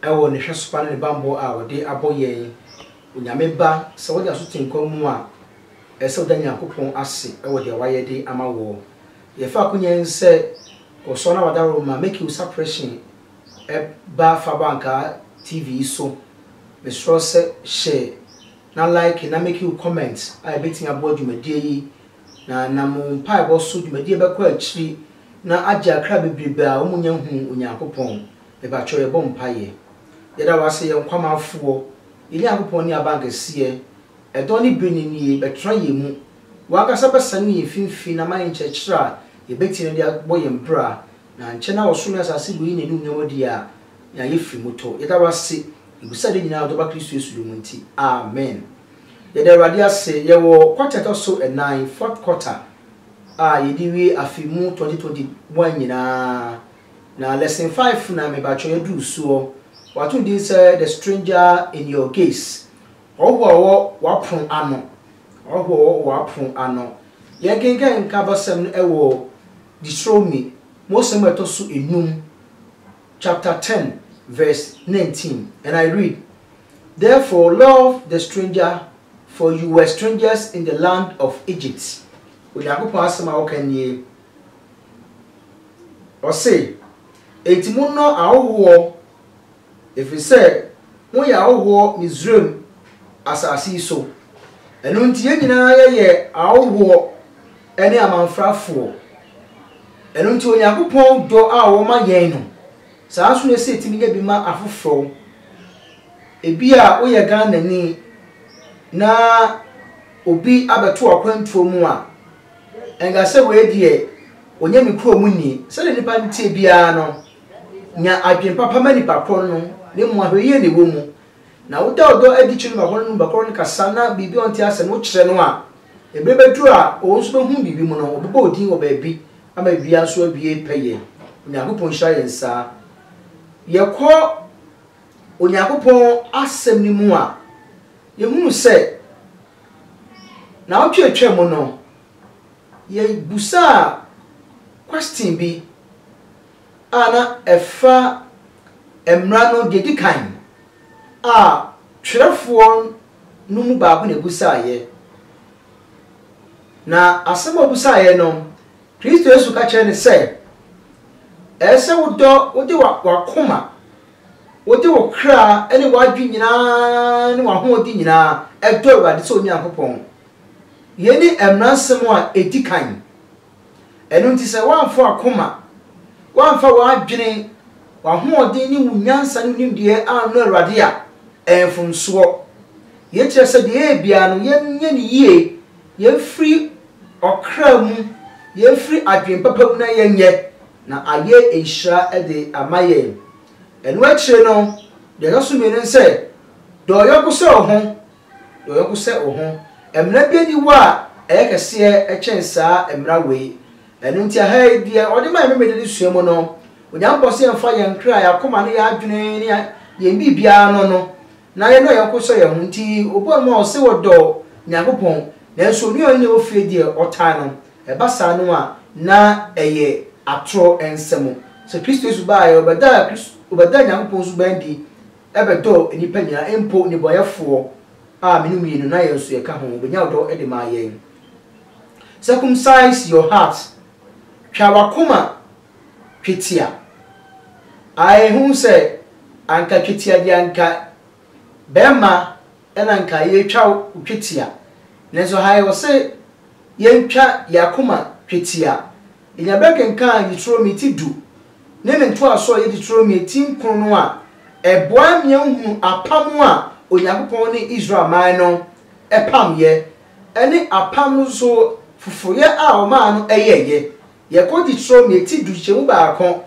Ɛwɔ Ne hwɛsopa ne Ne bammɔ a Ɔde abɔ yɛn, Onyame Ba, sɛ woda so te nkwa mu a, ɛsɛ sɛ woda Nyankopɔn ase wɔ deɛ Wayɛ de ama woɔ. Yɛfa akonya yi sɛ Ɔsɔ na Wada Roma Mekil Sapreshen ba fa ba nkaa TV yi so. Mesrɛ wo sɛ hyɛ na like na make wo comment a ɛbɛtumi aboa dwumadie yi, na nam wo mpaebɔ so dwumadie bɛkɔ akyiri na agye akra bebrebe a wɔnnya nhuu Onyankopɔn. Mepakyɛw yɛbɔ mpaeɛ. Yɛda wo ase yɛn Nkwamanfoɔ, yɛn Nyankopɔn ne Abankɛseɛ, ɛdɔ ne bere no nie, bɛtra yɛn mu. Wo ankasa bɛsane wɔ yɛn mfimfini na ma yɛn nkyerɛkyerɛ a yɛbɛtie no de abɔ yɛn bra, na ankyɛ na ɔsoro ne asase bɛyi n'anuonyam adi a yɛn a yɛfiri mu tɔ. Yɛda wo ase, yɛbisa ade nyinaa wɔ Dɔba Kristo Yesu din mu nti, amen. Yɛda Awurade ase, yɛwɔ quarter a ɛtɔ so ɛnan, fourth quarter, a yɛde wie afe mu 2021 nyinaa. Na lesson five na mebakyɔ yɛduru soɔ. Wato no din sɛ The Stranger in Your Gaze, Ɔhɔhoɔ a ɔwɔ w'apono ano. Ɔhɔhoɔ a ɔwɔ w'apono ano. Yɛkenkan nkabasɛm no wɔ Deuteronomy, Mmosɛm a ɛtɔ so nnum, chapter ten, verse nineteen, and I read, Therefore love the stranger, for you were strangers in the land of Egypt. Onyankopɔn asɛm a ɔka nie. Ɔse, Enti monnɔ ahohoɔ, ɛfiri sɛ moyɛ ahohoɔ Misraim asase yi so. Ɛno nti yɛn nyinaa yɛyɛ ahohoɔ ne amamfrafoɔ. Ɛno nti Onyankopɔn dɔ a ɔwɔ ma yɛn no, saa nso na ɛsɛ yɛtumi nya bi ma afoforɔ. Ebi a woyɛ Ghanani na obi abɛto w'akwantuo mu a, Nka sɛ wei deɛ ɔnyɛ ne kurom ni. Sɛdeɛ nnipa teɛ biara no, nya adwene papa ma nipa korɔ no, na mmom ahwɛyie na ɛwɔ mu. Na woda ɔdɔ adi kyerɛ nipa korɔ no, ne nipa korɔ no kasa na biribi a ɔnte aseɛ no wokyerɛ no a, ɛberɛ bɛduru a ɔno nso bɛhunu biribi mu no, ɔbɛbɔ wo din wɔ baabi ama biribiara nso awie pɛyɛ. Onyankopɔn nhyira yɛn saa. Yɛkɔ Onyankopɔn asɛm no mu a, yɛhunu sɛ Naawɔtwe a etwaa mu no, yebusaa kwɛsten bi a na ɛfa mmara no deɛ ɛdi kan a twerɛfoɔ no mu baako na ɛbusaaeɛ. Na asɛm a ɔbusaaeɛ no, Kristo Yesu ka kyerɛɛ no sɛ, Ɛsɛ sɛ wodɔ, wode w'akoma Wode wo kra ne w'adwene nyinaa ne w'ahoɔden nyinaa dɔ Awurade sɛ wo Nyankopɔn. Yei ne mmara nsɛm a ɛdi kan. Ɛno nti sɛ woamfa w'akoma, woamfa w'adwene, w'ahoɔden ne wo nyansa ne wo nimdeɛ annɔ Awurade a, ɛyɛ mfomsoɔ. Yei kyerɛ sɛ deɛ yɛyɛ biara no, yɛnyɛ no yie, yɛmfiri ɔkra mu, yɛmfiri adwene papa mu na yɛnyɛ, na ayɛ nhyira de ama yɛn. Ɛno akyire no, deɛ ɛtɔ so mmienu ne sɛ, dɔ wo yɔnko sɛ wo ho, dɔ wo yɔnko sɛ wo ho. Mmara biara nni hɔ a ɛyɛ kɛseɛ kyɛn saa mmara wei. Ɛno nti aha yi, deɛ wɔde ma yɛn Memeneda no sua mu no, Onyankopɔn se yɛmfa yɛn kra, yɛn akoma ne yɛn adwene ne yɛn biribiara no no, na yɛdɔ yɛn yɔnko sɛ yɛn ho nti, obuaa no ma ɔse ɔdɔ Nyankopɔn, nanso onua a ɔne no wɔ fie deɛ, ɔtaa no. Ɛba saa no a, na ɛyɛ atorɔ nsɛm. Sɛ Kristo Yesu baeɛ, ɔbɛdaa Kristo, ɔbɛdaa Nyankopɔn suban adi bɛdɔɔ nnipa nyinaa, mpo nnebɔneyɛfoɔ a me no mmienu, na yɛn nso yɛka ho. Ɔbɛnya ɔdɔ de maa yɛn. Circumcise your heart, twa w'akoma twetia. Ae ehu sɛ anka twetia deɛ anka bɛɛma ɛna anka yɛtwa wo twetia nanso ha yɛ ɔse yɛntwa yɛ akoma twetia yɛnya berɛ kenkan Deuteronomy ti du ne ne ntoasoɔ a ɛyɛ Deuteronomy ti nkron no a ɛboa ma yɛhunu apam a Onyankopɔn ne Israel man no pam yɛ ɛne apam no nso foforoyɛ a ɔmaa no yɛɛyɛ Yɛkɔ Deuteronomy ti du kyekyɛmu baako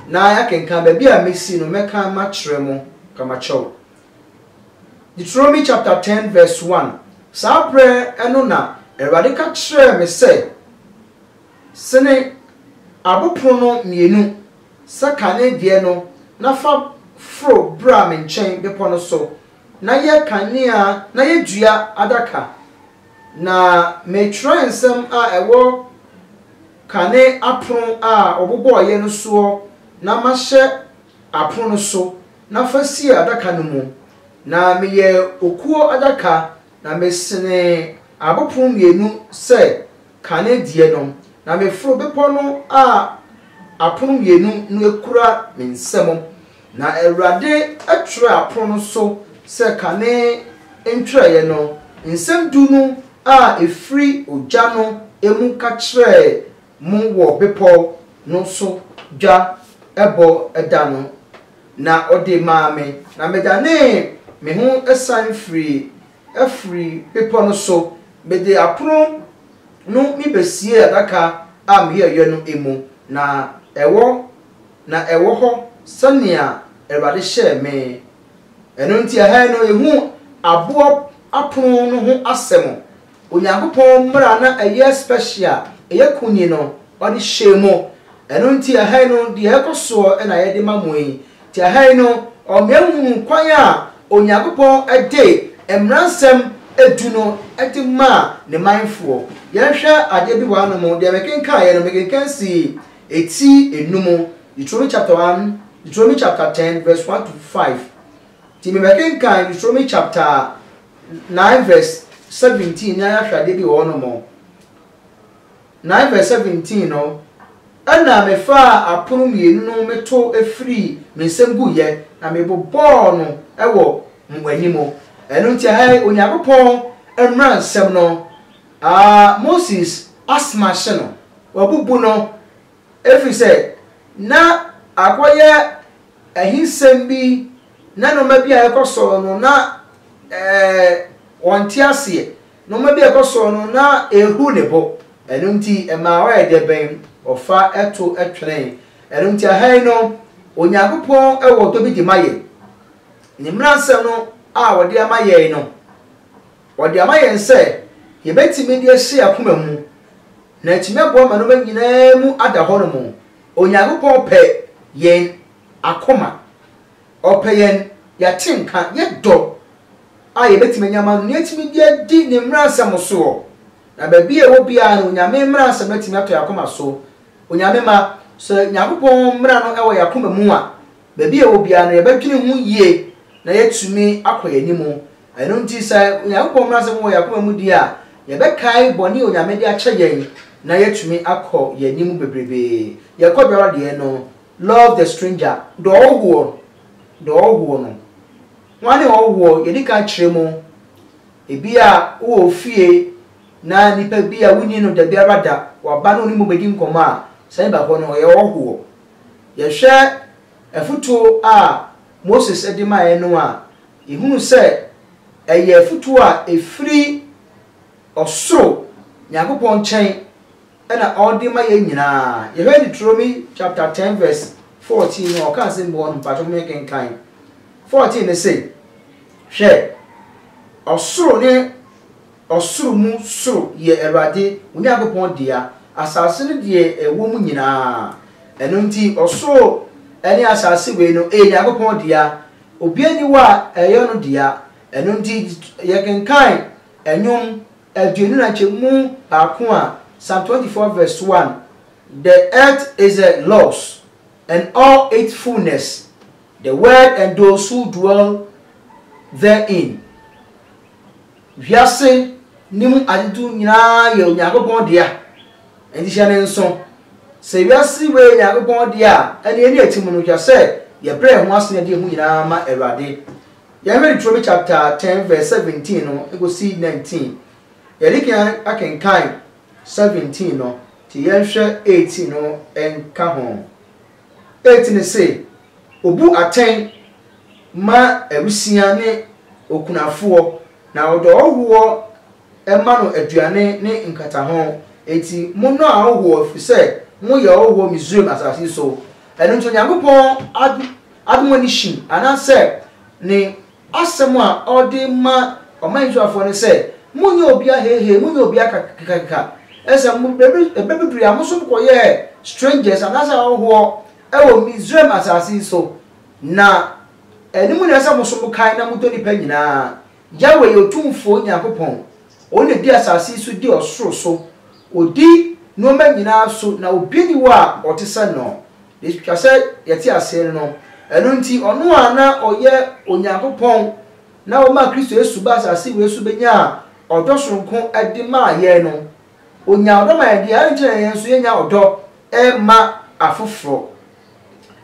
na yɛakenkan baabi a mesi no mɛkan makyerɛ mo kamakyɛw. Deuteronomy chapter ten verse one, Saa berɛ no na Awurade ka kyerɛɛ me sɛ, Sene abopono mmienu sɛ kane deɛ no na fa foro bra me nkyɛn bepɔ no so na yɛ kanea na yɛ dua adaka. Na me twerɛnsɛm a ɛwɔ kane apono a wɔbobɔeɛ no soɔ na mahyɛ apono no so, na fa sie adaka no mu. Na meyɛ okuo adaka, na mesenee abopono mmienu sɛ kane deɛ no, na meforo bepɔ no a apono mmienu no kura me nsa mu, Na Awurade twerɛɛ apono no so sɛ kane ntwerɛeɛ no, nsɛm du no a ɛfiri ogya no mu ka kyerɛɛ mo wɔ bepɔ no so dwa bɔ da no, na ɔde maa me, na medanee me ho san firii firi bepɔ no so, mede apono no mi bɛsiee adaka a meyɛeɛ no mu, na ɛwɔ Na ɛwɔ hɔ sɛnea Awurade hyɛɛ me. Ɛno nti, ɛha yi no, ehu aboɔ apono no ho asɛm. Onyankopɔn mmara a na ɛyɛ special a ɛyɛ kunini no, ɔde hyɛɛ mu. Ɛno nti, ɛha yi no, deɛ ɛkɔ soɔ na yɛde ma mo yi. Nti ɛha yi no, ɔmea hunu kwan a Onyankopɔn de mmaransɛm du no de maa ne manfoɔ. Yɛnhwɛ adeɛ bi wɔ hanom, deɛ mekenkaeɛ no, mekenkan sii Etsi enum, Deuteronomy chapter one, Deuteronomy chapter ten verse one to five. Ntsi mebɛkenkan Deuteronomy chapter nine verse seventeen nye ayɛhwɛdze bi wɔ hɔnom. Nine verse seventeen no, Nna mefaa apon mienu no me to firii me nsamu guiɛ na mebobɔɔ no wɔ mo anim. Ɛno nti, ha yi Onyankopɔn mmaransɛm no. Aa Moses asthma hye no, wabubu no ɛfiri sɛ na akɔyɛ ahinsɛm bi na nnoɔma bi a ɛkɔ soɔ no na ɔnte aseɛ, nnoɔma bi a ɛkɔ soɔ no na ɛhu ne bo, ɛno nti ɛmaa ɔyɛ deɛ bɛn? Ɔfa to twene. Ɛno nti aha yi no Onyankopɔn wɔ dɔ bi de ma yɛn. Ne mmaransɛm no a ɔde ama yɛn no, Ɔde ama yɛn sɛ yɛbɛtumi de asie akoma mu, na atumi aboa ma nnoɔma nyinaa mu ada hɔ nom. Onyankopɔn pɛ yɛn akoma. Ɔpɛ yɛn yɛate nka, yɛ dɔ a yɛbɛtumi anya ama no, na yɛatumi de adi ne mmaransɛm soɔ. Na baabi a ɛwɔ biara no, Onyame mmaransɛm no atumi atɔ yɛn akoma so. Onyame mma, sɛ Nyankopɔn mmara no wɔ yɛn akoma mu a, baabi a ɛwɔ biara no yɛbɛdwene ho yie na yɛatumi akɔ yɛn anim. Ɛno nti, sɛ Onyankopɔn mmara nsɛm wɔ yɛn akoma mu di a, yɛbɛkae bɔne a Onyame de akyɛ yɛn na yɛatumi akɔ yɛn anim bebrebe. Yɛkɔ biara deɛ no, Love the stranger, dɔ ɔhɔhoɔ, dɔ ɔhɔhoɔ no. Hwane ɔhɔhoɔ? Yɛdi kan kyerɛ mu. Ebia wowɔ wo fie na nipa bi a wonni no dabiara da, waba na wo ne mu bɛdi nkɔmmɔ a, sane ba hɔ no, ɔyɛ ɔhɔhoɔ. Yɛhwɛ afotuo a Moses de maeɛ no a, Yɛhunu sɛ ɛyɛ afotuo a ɛfiri ɔsoro Nyankopɔn nkyɛn na ɔde ma yɛn nyinaa. Yɛhwɛ Deuteronomy chapter ten verse fourteen no a, ɔka asɛm bi wɔ hɔ no, mpakyɛ mo yɛ kenkan. Fourteen ne se, Hwɛ, ɔsoro ne ɔsoro mu soro yɛ Awurade wo Nyankopɔn dea, asase ne deɛ ɛwɔ mu nyinaa. Ɛno nti, ɔsoro ne asase wei no ɛyɛ Nyankopɔn dea, Obiara nni hɔ a ɛyɛ no dea. Ɛno nti, yɛkenkan Nnwom aduonu na nkyɛ mu baako a, Psalm 24 vs 1, The earth is the Lord's, and all its fullness, the world and those who dwell therein. Wiase no mu adetu nyinaa yɛ Onyankopɔn dea, enti hyɛ no nso. Sɛ wiase wei yɛ Onyankopɔn dea a, ɛnneɛ yɛn a yɛte mu no, hwɛ sɛ yɛbrɛ yɛn ho ase na yɛde yɛn ho nyinaa ma Awurade. Yɛnhwɛ Deuteronomy chapter ten verse seventeen no kɔsi nineteen. Yɛde kan akenkan seventeen no, nti yɛnhwɛ eighteen no nka ho. Enti ne se, Obu atɛn ma awisiaa ne okunafoɔ, na ɔde ɔhɔhoɔ ma no aduane ne nkataho. Enti monnɔ ahɔhoɔ, ɛfiri sɛ moyɛ ɔhɔhoɔ Misraim asase yi so. Ɛno nti Onyankopɔn ade mo ani hye, anaasɛ ne Asɛm a ɔde ma ɔman Israelfoɔ no sɛ, Monyɛ obiara heihei, monyɛ obiara kakakakaka. Ɛsɛ sɛ mo, baabi, ɛbɛ bi duruiɛ a, mo nso mokɔyɛɛ strangers, anaasɛ ahɔhoɔ, wɔ Misraim asase yi so. Na ɛno mu na ɛsɛ sɛ mo nso mokae na modɔ nnipa nyina ara. Yahweh yɛ Otumfoɔ Nyankopɔn. Ɔno na ɔdi asase yi so, di ɔsoro so. Ɔdi nnoɔma nyina ara so, na obiara nni hɔ a ɔte sɛ no. Etwa sɛ yɛte ase no. Ɛno nti, ɔno a na ɔyɛ Onyankopɔn na ɔmaa Kristo Yesu baa asase wei so benyaa ɔdɔ soronko de maa yɛn no, onyaa ɔdɔ ma yɛn deɛ, adɛn nti na yɛn nso yɛnnya ɔdɔ mma afoforɔ?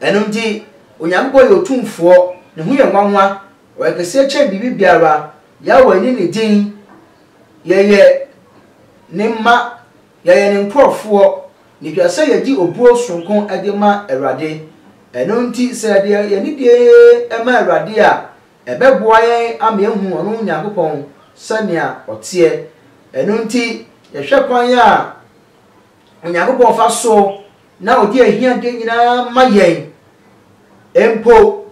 Ɛno nti, Onyankopɔn yɛ otumfoɔ, ne ho yɛ nwanwa, ɔyɛ kɛseɛ kyɛn biribi biara, Yahweh ne ne din, yɛyɛ ne mma. Yɛyɛ Ne nkorɔfoɔ, na etwa sɛ yɛgye obuo soronko de ma Awurade. Ɛno nti sɛ yɛde yɛn anidie ma Awurade a, ɛbɛboa yɛn ama yɛahunu ɔno Nyankopɔn sɛnea ɔteɛ. Ɛno nti yɛhwɛ kwan a Onyankopɔn fa so na ɔde ahiadeɛ nyinaa ma yɛn, mpo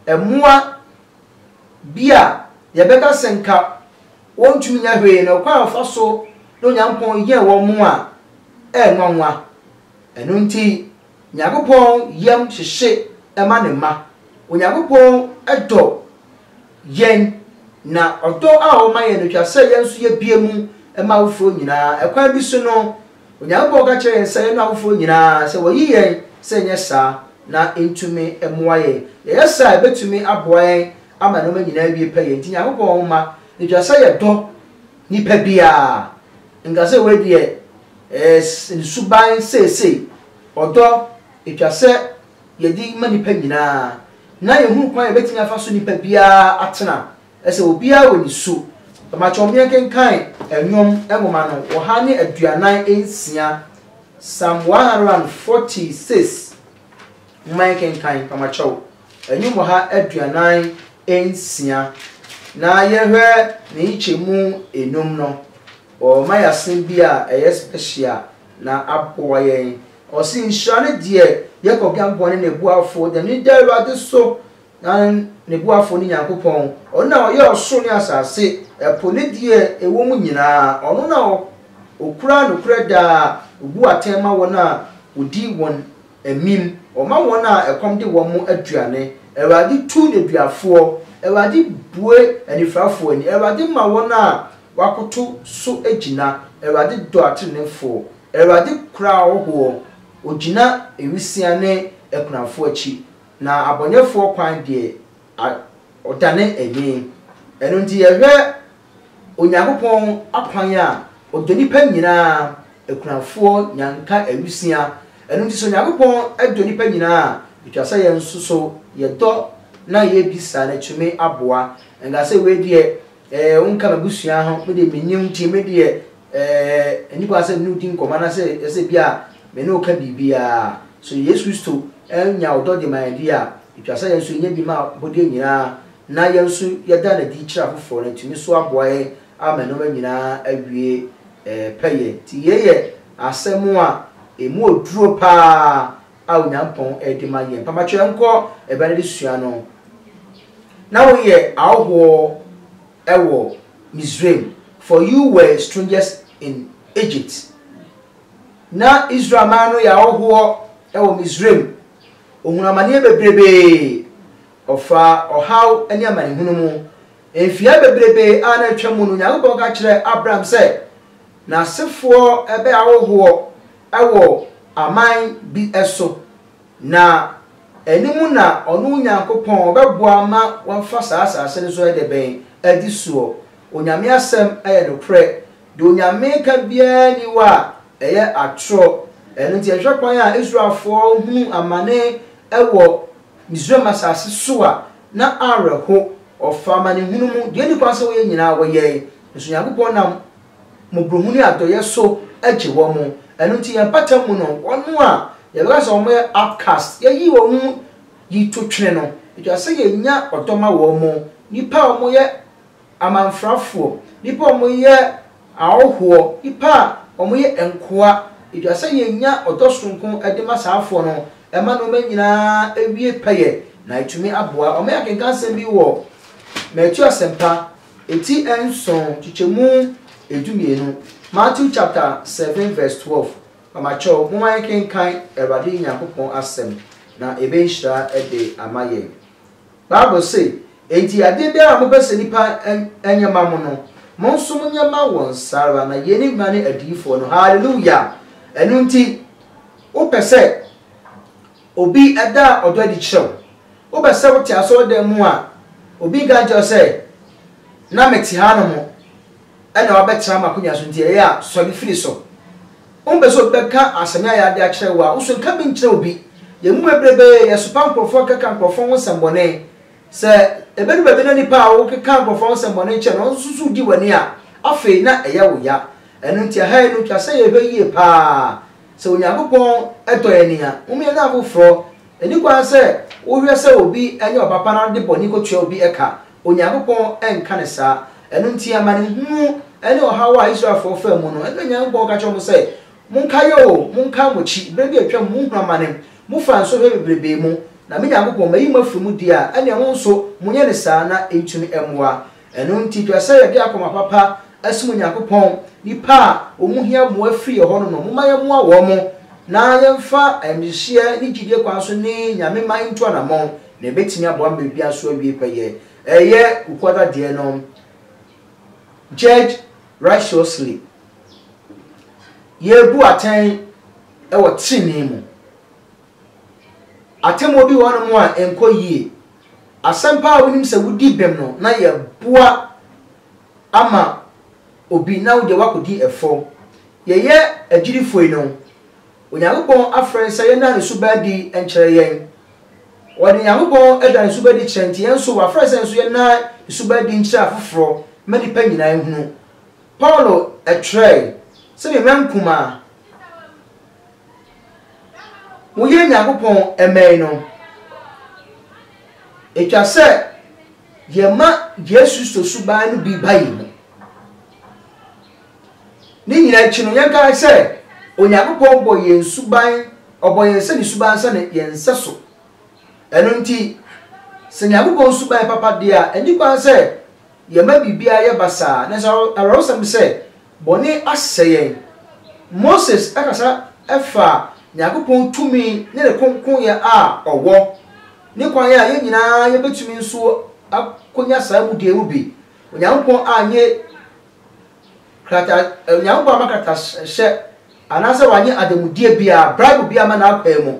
mmoa bi a yɛbɛka sɛ nka, Wɔntumi nyɛ hwee na ɔkwan a wɔfa so ne Onyankopɔn yɛ wɔn a ɛyɛ nwanwa. Ɛno nti, Nyankopɔn yam hyehye ma ne mma. Onyankopɔn dɔ yɛn, na ɔdɔ a ɔwɔ ma yɛn no twa sɛ yɛn nso yebue mu ma afoforo nyinaa. Ɛkwan bi so no, Onyankopɔn ka kyerɛ yɛn sɛ yɛnnɔ afoforo nyinaa, sɛ wɔyi yɛn sɛ yɛnyɛ saa na entumi mmoa yɛn. Yɛyɛ saa a, ebetumi aboa yɛn ama nnoɔma nyinaa awie pɛyɛ nti Nyankopɔn mma ɛtwa sɛ yɛdɔ nipa biara nka sɛ wei deɛ ɛyɛ ne suban seesei ɔdɔ ɛtwa sɛ yɛde ma nipa nyinaa na yɛhunu kwan yɛbɛtumi afa so nipa biara atena ɛsɛ obiara wɔ ne su makyɛ ɔmo yɛnkenkan ɛnwom nwoma no ɔha ne aduanan nsia Psalm 146 mma yɛnkenkan pamakyɛw Nnwom ɔha aduanan nsia. Na yɛhwɛ ne nkyekyɛmu nnum no, ɔma yɛn asɛm bi a ɛyɛ special na aboa yɛn. Ɔse, Nhyira ne deɛ Yakob Nyankopɔn ne ne boafoɔ, deɛ n'ani da Awurade so, na ne boafoɔ ne Nyankopɔn, ɔno na ɔyɛɛ ɔsoro ne asase, ɛpo ne deɛ ɛwɔ mu nyinaa, ɔno na ɔkura nokorɛ daa, ɔbu atɛn ma wɔn a wɔdi wɔn Amim, ɔma wɔn a ɛkɔm de wɔn mo aduane, Awurade tu nneduafoɔ, Awurade bue anifirafoɔ ani, Awurade ma wɔn a wɔakoto so gyina, Awurade dɔ ateneneefoɔ, Awurade kora ahɔhoɔ, ɔgyina nwisiaa ne akunafoɔ akyi, na abɔneɛfoɔ kwan deɛ, A Ɔdane adwene. Ɛno nti yɛhwɛ Onyankopɔn akwan a, ɔdɔ nnipa nyinaa, akunafoɔ, nyanka, awusia. Ɛno nti sɛ Onyankopɔn dɔ nnipa nyinaa a, ɛtwa sɛ yɛn nso so yɛdɔ na yɛbisa no tumi aboa. Nka sɛ wei deɛ Eh wonka m'abusua ho me deɛ mennim nti me deɛ eh ɛnni kwan sɛ me ne wo di nkɔmmɔ anaasɛ ɛsɛ bi a me ne wo ka biribiara. So Yesu Kristo anya ɔdɔ de ma yɛn deɛ a, ɛtwa sɛ yɛn nso yɛnya bi ma abɔdeɛ nyinaa na yɛn nso yɛda no adi kyerɛ afoforɔ na atumi nso aboa yɛn ama nneɛma nyinaa awie eh pɛyɛ. Nti yei yɛ asɛm a ɛmu oduro paa a Onyankopɔn de ma yɛn. Papa kyerɛ nkɔ ɛbɛ no de sua no. Na woyɛ ahɔhoɔ wɔ Misraim, for you were strangers in Egypt. Na Israel man no yɛ ahɔhoɔ wɔ Misraim. Ɔhunu amaneɛ bebrebee, ɔfaa ɔhaw ne amanehunu mu. Mfeɛ bebrebee a na atwa mu no, Onyankopɔn ka kyerɛɛ Abram sɛ, n'asefoɔ bɛyɛ ahɔhoɔ wɔ aman bi so, na ɛno mu na ɔno Onyankopɔn ɔbɛboa ma wɔafa saa asase no so de bɛn? Adi soɔ. Onyame asɛm yɛ nokorɛ. Deɛ Onyame ka biara nni hɔ a ɛyɛ atorɔ. Ɛno nti yɛhwɛ kwan a Israelfoɔ hunu amane wɔ Misraim asase so a, na awerɛho. Wɔfa amanehunu mu. Deɛ ɛnni kwan sɛ wɔyɛ nyinaa wɔyɛe. Nso Nyankopɔn nam. mmɔborɔhunu ne adɔeɛ so gye wɔn. Ɛno nti yɛn mpata mu no, wɔn a yɛbɛka sɛ wɔyɛ outcast, yɛyi wɔn mu yi to twene no, ɛtwa sɛ yɛnya ɔdɔ ma wɔn, nnipa a wɔyɛ amamfrafoɔ, nnipa a wɔyɛ ahɔhoɔ, nnipa a wɔyɛ nkoa, ɛtwa sɛ yɛnya ɔdɔ sononko de ma saa afoɔ no, ɛma nneɛma nyinaa wie pɛyɛ, na ɛtumi aboa. Wɔyɛ akenkansɛm bi wɔ Matthew Asɛmpa Eti nson nkyekyɛmu edumienu, Matthew chapter seven verse twelve, Mamakyɛw, momma yɛnkenkan Awurade Nyankopɔn asɛm, na ɛbɛyɛ nhyira de ama yɛn. Bible se, Enti adeɛ biara a mopɛ sɛ nnipa nyɛ ma mo no, mo nso monyɛ ma wɔn saa ara, na yei ne Mmara ne Adiyifoɔ no. Hallelujah! Ɛno nti, wopɛ sɛ Obi da ɔdɔ adi kyerɛ wo. Wopɛ sɛ wote asɔredan mu a, obi nka nkyerɛ wo sɛ, Na mete hanom, ɛnna woabɛtena m'akonnwa so nti, ɛyɛ a sɔre firi so. Wompɛ sɛ obi bɛka asɛm a ɛyɛ ade akyerɛ wo a, wo nso nka bi nkyerɛ obi. Yɛn mu bebrebe yɛsopa nkurɔfoɔ keka nkurɔfoɔ ho nsɛmmɔne. Sɛ ɛbɛdu baabi na nnipa a wokeka nkurɔfoɔ ho nsɛmmɔne kyerɛ no nso so di w'ani a, afei na ɛyɛ wo ya. Ɛno nti, ɛha yi no, ɛtwa sɛ yɛhwɛ yie paa Sɛ Onyankopɔn dɔ yɛn a, momma yɛnyɛ afoforɔ. Ɛnni kwan sɛ wohwɛ sɛ obi nyɛ ɔpapa na wode bɔne kɔtua obi ka. Onyankopɔn nka no saa. Ɛno nti, amanehunu ne ɔhaw a Israelfoɔ faa mu no, ɛno na Onyankopɔn ka kyerɛɛ wɔn sɛ, Monkae o, monkae mo akyi, berɛ bi a atwam, mohunu amane, mofaa nsɔhwɛ bebrebe mu, na me Nyankopɔn, mayi mo afiri mu deɛ a, ɛnneɛ mo nso monyɛ no saa na ɛntumi mmoa Ɛno nti, ɛpɛ sɛ yɛde akoma papa som Onyankopɔn. Nnipa a wɔhia mmoa firi yɛn hɔ no no, momma yɛmmoa wɔn, na yɛmfa ayamhyehyeɛ ne gyidie kwan so ne Nyame man ntu anammɔn, na ɛbɛtumi aboa ma biribiara nso awie pɛyɛ. Ɛyɛ Kukuo Adadeɛ no Judge Righteously Yɛrebu atɛn wɔ tenenee mu. Atemmuo bi wɔ hɔnom a ɛnkɔ yie. Asɛmpa a wonim sɛ wodi bem no na yɛboa ama obi na wo deɛ woakɔdi ɛfɔ. Yɛyɛ agyidifoɔ yi no, Onyankopɔn afrɛ yɛn sɛ yɛnna Ne suba adi nkyerɛ yɛn. Wɔde Nyankopɔn da Ne suba adi kyerɛ nti yɛn nso wafrɛ sɛ nso yɛnna Ne suba adi nkyerɛ afoforɔ ma nnipa nyinaa nhunu. Paulo twerɛɛe sɛ, Me mmerɛnkumaa, Woyɛ Nyankopɔn mmɛn no. Etwa sɛ yɛma Yesu Kristo suban no bi ba yɛn mu. Ne nyinaa akyi no, yɛnkae sɛ Onyankopɔn bɔ yɛn suban, ɔbɔ yɛn sɛ ne suban sɛ ne yɛn nsɛso. Ɛno nti, sɛ Nyankopɔn suban yɛ papa deɛ a, ɛnni kwan sɛ yɛma biribiara yɛ basaa. Nanso awerɛhosɛm sɛ, Bɔne asɛe yɛn. Moses kasa faa Nyankopɔn tumi ne ne kronkronyɛ a ɔwɔ, ne kwan a yɛn nyinaa yebetumi nso akonya saa mu deɛ mu bi. Onyankopɔn anyɛ krata, Onyankopɔn amma kratahyɛ anaasɛ wanyɛ adanmudeɛ biara, bribe biara amma n'akwaa mu.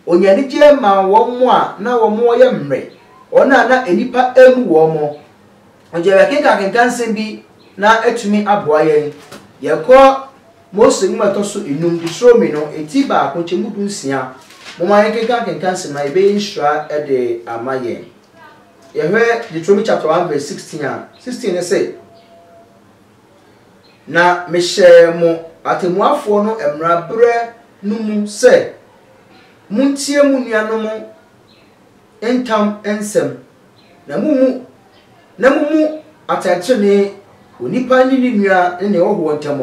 Ɔnyaa anigyeɛ maa wɔn a na wɔyɛ mmrɛ, wɔn a na nnipa mmu wɔn. Ɔgye yɛkenkankenka nsɛm bi na atumi aboa yɛn. Yɛnkɔ Mose nwoma a ɛtɔ so enum, Deuteronomy no, eti baako, nkyɛmu du nsia. Momma yɛnkenkankenka nsɛm na ɛbɛyɛ nhyira de ama yɛn. Yɛhwɛ Deuteronomy chapter 1 verse 16 a, 16 no se, Na mehyɛɛ mo atɛmmuafoɔ no mmara berɛ no mu sɛ, Montie mo nuanom ntam nsɛm. Na mummu, na mummu atɛntrenee onipa ne ne nua ne nea ɔwɔ ntam.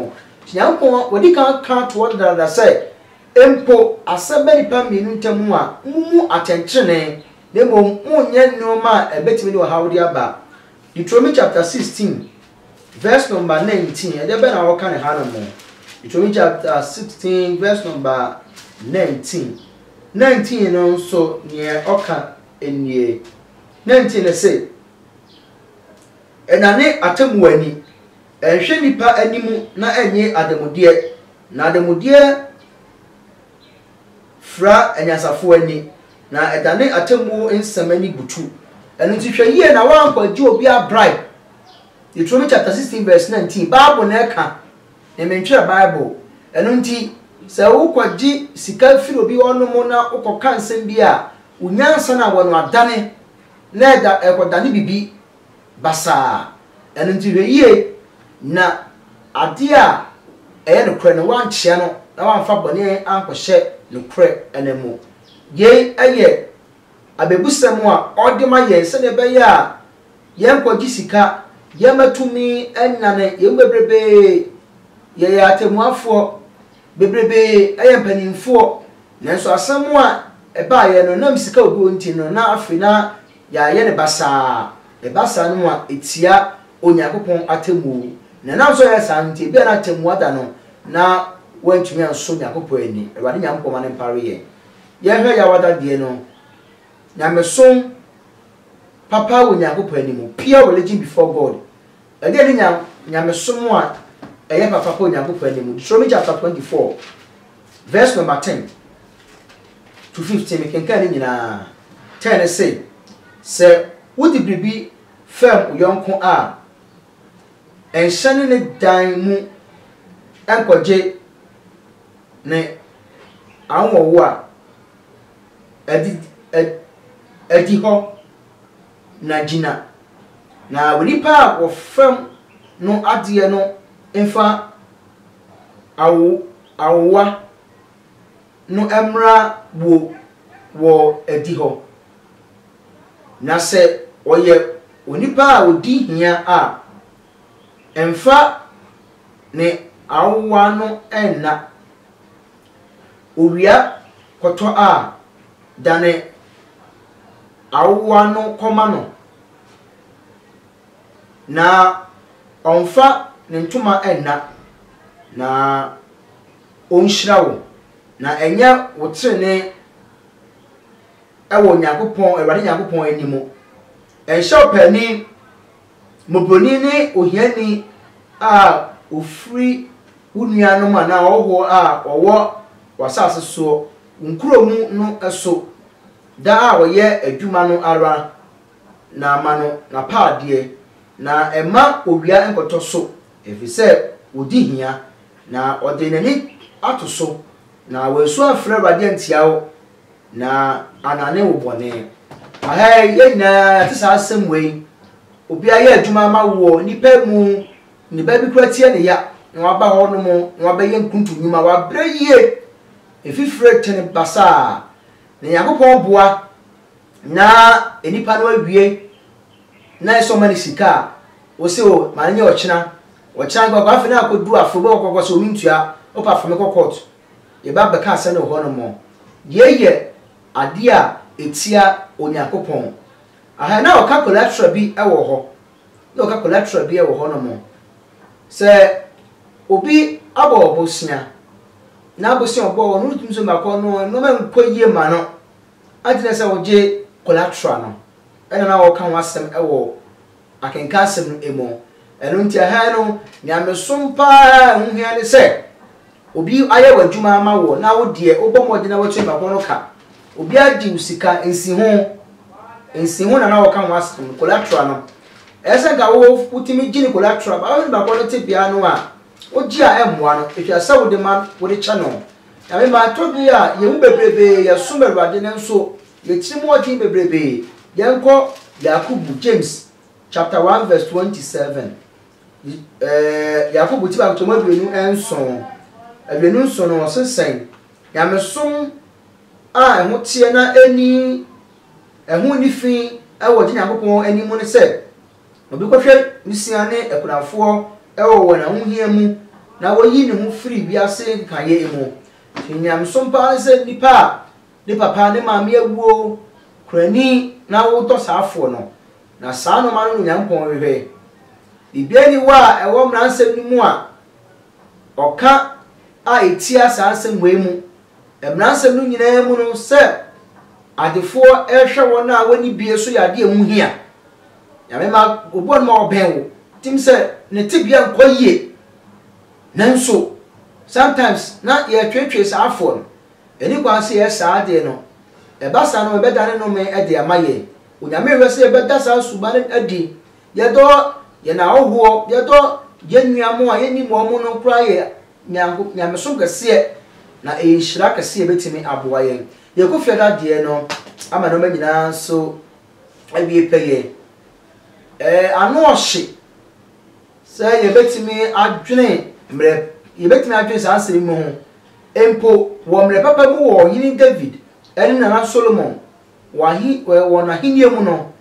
Onyankopɔn, wadi kan aka ato hɔ dedaada sɛ, Mpo asɛm ba nnipa mmienu ntam a, mummu atɛntrenee, na mmom monnyɛ nneɛma a ɛbɛtumi de ɔhaw de aba. Deuteronomy chapter 16 verse number 19, ɛdeɛ bɛn na wɔka ne hanom? Deuteronomy chapter 16 verse number 19. 19 no nso, neɛ ɔka nnie. Ne nti ne se, Nnane atemmuo ani, nnhwɛ nnipa anim na nnye ademudeɛ, na ademudeɛ fira anyansafoɔ ani, na ɛdane atemmuo nsem ani butu. Ɛno nti hwɛ yie na woannkɔ agye obiara bribe. Deuteronomy chapter sixteen verse nineteen, Bible na ɛka. Na mentwerɛ Bible. Ɛno nti, sɛ wokɔgye sika firi obi hɔnom na wokɔka nsɛm bi a, wo nyansa no awɔ no adane, na ɛda, ɛkɔdane biribi basaa. Ɛno nti hwɛ yie na adeɛ a ɛyɛ nokorɛ no, woankyea no na woamfa bɔne ankɔhyɛ nokorɛ no mu. Yei yɛ abɛbusɛm a ɔde ma yɛn sɛdeɛ ɛbɛyɛ a Yɛn kɔ gye sika, yɛn mma tumi nyane, yɛn mu bebrebee yɛ yɛ atɛmmuafoɔ, bebrebee yɛ mpaninfoɔ, nanso asɛm a ɛbaeɛ no nam sika obi wɔ nti no na afei na yɛayɛ no basaa, ɛba saa no mu a ɛtia Onyankopɔn atɛmmuo, na ɛnam sɛ ɔyɛ saa no nti ebia na atɛmmuo ada no na wantumi ansɔ Onyankopɔn ani, Awurade Nyankopɔn ma no mpare yɛn. Yɛnhwɛ Yawada deɛ no. Nyamesom papa wɔ Nyankopɔn anim, pure religion before God. Ɛdeɛn ne nya, nyamesom a ɛyɛ papa pa Onyankopɔn anim? Deuteronomy chapter 24, verse number 10 to 15, mekenkan ne nyinaa. 10 ne se, sɛ wode biribi fɛm wo yɔnko a, nhyɛne ne dan mu nkɔgye ne anwɔwo a, Adi, ad, adihɔ, na gyina. Na onipa a wɔfam no adeɛ no mfa awo, awowa no mmra wuo wɔ adihɔ. Na sɛ ɔyɛ onipa a ɔdi hia a, mfa ne awowa no nna. Owia kɔtɔ a, dane awowa no kɔma no, na ɔmfa ne ntoma nna, na ɔnhyira wo, na ɛnyɛ wo trenee wɔ Onyankopɔn, Awurade Nyankopɔn anim. Ɛnhyɛ ɔpaani Mmɔborɔni ne ohiani a ɔfiri wo nuanom anaa ɔhɔhoɔ a ɔwɔ w'asase soɔ, wo nkuro mu no so, da a ɔyɛ adwuma no ara, na ma no n'apaadeɛ, na mma owia nkɔtɔ so, ɛfiri sɛ ɔdi hia, na ɔde n'ani ato so, na wansu amfrɛ Awurade antia wo, Na anane wo bɔne. Aha yi, yɛn nyinaa yɛate saa asɛm wei. Obi ayɛ adwuma ama woɔ, nnipa mu, ne ba bi kura tie ne ya, na waba hɔ nom, na wabɛyɛ nkuntu nnwuma, wabrɛ yie, efifire tene basaa, na Nyankopɔn boa, na nnipa no awie, na ɛsɛ ɔma ne sika a, wo se o, ma no nyɛ ɔkyena, ɔkyena nka ɔkɔ, afei na akɔdu afe, wobɛkɔ kɔkɔ sɛ omentua, wopɛ afa me kɔ kɔɔto. Yɛba abɛka asɛm no wɔ hɔ no mo, yei yɛ adeɛ a ɛtia Onyankopɔn. Ahaa na ɔka collateral bi wɔ hɔ, na ɔka collateral bi wɔ hɔ no mo. Sɛ obi abɔ bosea, na bosea ɔbɔ hɔ no wontumi so mako no nnoɔma nkɔ yie ma no, agye na sɛ wogye collateral no, ɛna na ɔka ho asɛm wɔ. Akenka asɛm no emu. Ɛno nti ɛha no, nyamesom pa ara a ɛho hia ne sɛ obi ayɛ w'adwuma ama wo na wo deɛ wobɔ mmɔden na woatua nipa ko no ka. Obi agye wo sika, nsiho, nsiho na na wɔka ho asɛm no, collateral no. Ɛyɛ sɛ anka wo wotumi gye ne collateral but wohwɛ nipa ko no tebea no a, wogye a ɛmmoa no, ɛhwɛ sɛ wode ma wode kyɛ no. Nyame mma, ɛtɔ bere a yɛn mu bebrebe yɛsom Awurade nanso Y'atirimuɔden bebrebe Yɛnkɔ Yakobo, James, chapter one verse twenty seven. Yakobo ti baako kyɛm aduonu nson. Aduonu nson no ɔse sɛn? Nyamesom a ɛho teɛ na ɛni ɛho nni fi wɔ gye Nyankopɔn ani mu ne sɛ obi kɔhwɛ wusia ne akunafoɔ wɔ wɔn ahohia mu na wɔyi ne ho firi wiase nkekaeɛ mu. Nti nyamesom paa ne sɛ nnipa a ne papa ne maame awuo, kurani na wotɔ saa foɔ no, na saa nnoɔma no na Onyankopɔn hwehwɛ. Biribiara nni hɔ a ɛwɔ mmaransɛm no mu a ɔka a ɛtia saa nsɛm wei mu. Mmaransɛm no nyinaa mu no sɛ adefoɔ rehwɛ wɔn a wɔnni bie so yɛ adeɛ a ɛho hia. Nyame ma obuo no ma ɔbɛn wo. Tim sɛ ne tebea nkɔ yie. Nanso sometimes na yɛtwetwe saa foɔ no. Ɛni kwan sɛ yɛyɛ saa adeɛ no. Ɛba saa no ɛbɛdane nnome de ama yɛn. Onyame hwɛ sɛ yɛbɛda saa suban no adi. Yɛdɔ yɛn ahɔhoɔ, yɛdɔ yɛn nua mo a yɛnnim wɔn no koraa yɛ nyanko nyamesom kɛseɛ. Na ɛyɛ nhyira kɛseɛ ɛbɛtumi aboa yɛn. Yɛn Kofi Adadeɛ no ama nnoɔma nyinaa nso awie pɛyɛ. Ɛɛ ano ɔhye sɛ yɛbɛtumi adwene mmerɛ yɛbɛtumi adwene saa nsɛm yi mu ho Mpo wɔ mmerɛ papa mu wɔ Ɔhene David ne Nana Solomon wɔn ahennie mu no,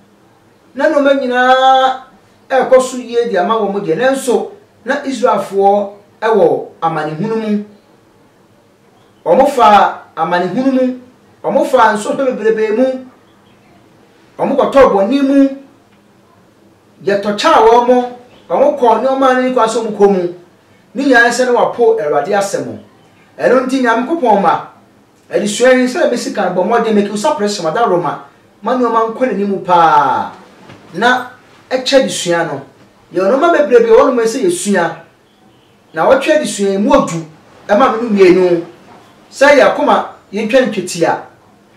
na nnoɔma nyina ara rekɔ so yie de ama wɔn deɛ, nanso na Israelfoɔ wɔ amanehunu mu. Wɔfaa amanehunu mu, wɔfaa nsɔhwɛ bebrebe mu, wɔkɔtɔɔ bɔne mu, yɛtɔkyaa wɔn, wɔkɔɔ nnoɔma a na ɛnni kwan sɛ wɔkɔ mu. ne nyinaa sɛ na wɔapo Awurade asɛm. Ɛno nti, Nyankopɔn mma, adesua yi, sɛdeɛ mesi kan bɔ mmɔden make usa pressure mada Roma ma nnoɔma nkɔ n'anim pa ara na ɛkyɛ adesua no. Yɛwɔ nnoɔma bebree bi wɔ hɔ nom a ɛsɛ yɛsua. Nnawɔtwe adesua yi, ɛmu ɔdu ma me no mmienu, sɛ yɛn akoma yɛntwa no twetia.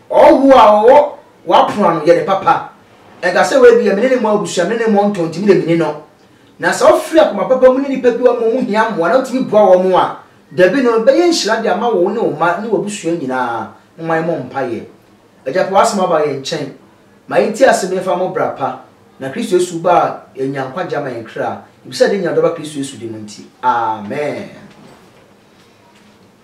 Ɔhɔhoɔ a ɔwɔ w'apono ano, yɛ no papa. Ɛnka sɛ wei deɛ me ne ne mmɔ abusua, me ne ne mmɔ ntɔn nti me deɛ menni no. Na sɛ ɔfiri akoma papa mu ne nnipa bi a wɔn ho hia mmoa na otumi boa wɔn a, dabi no, ɛbɛyɛ nhyira de ama wo ne wo mma ne w'abusua nyinaa. Momma yɛmmɔ mpaeɛ. Agya, fa w'Asɛm aba yɛn nkyɛn. Ma yɛntie asɛm yi mfa mmɔ bra pa, na Kristo Yesu ba a yɛanya nkwagye ama yɛn kra, yɛbisa de nya ɔdɔ ba Kristo Yesu din mu nti. Amen.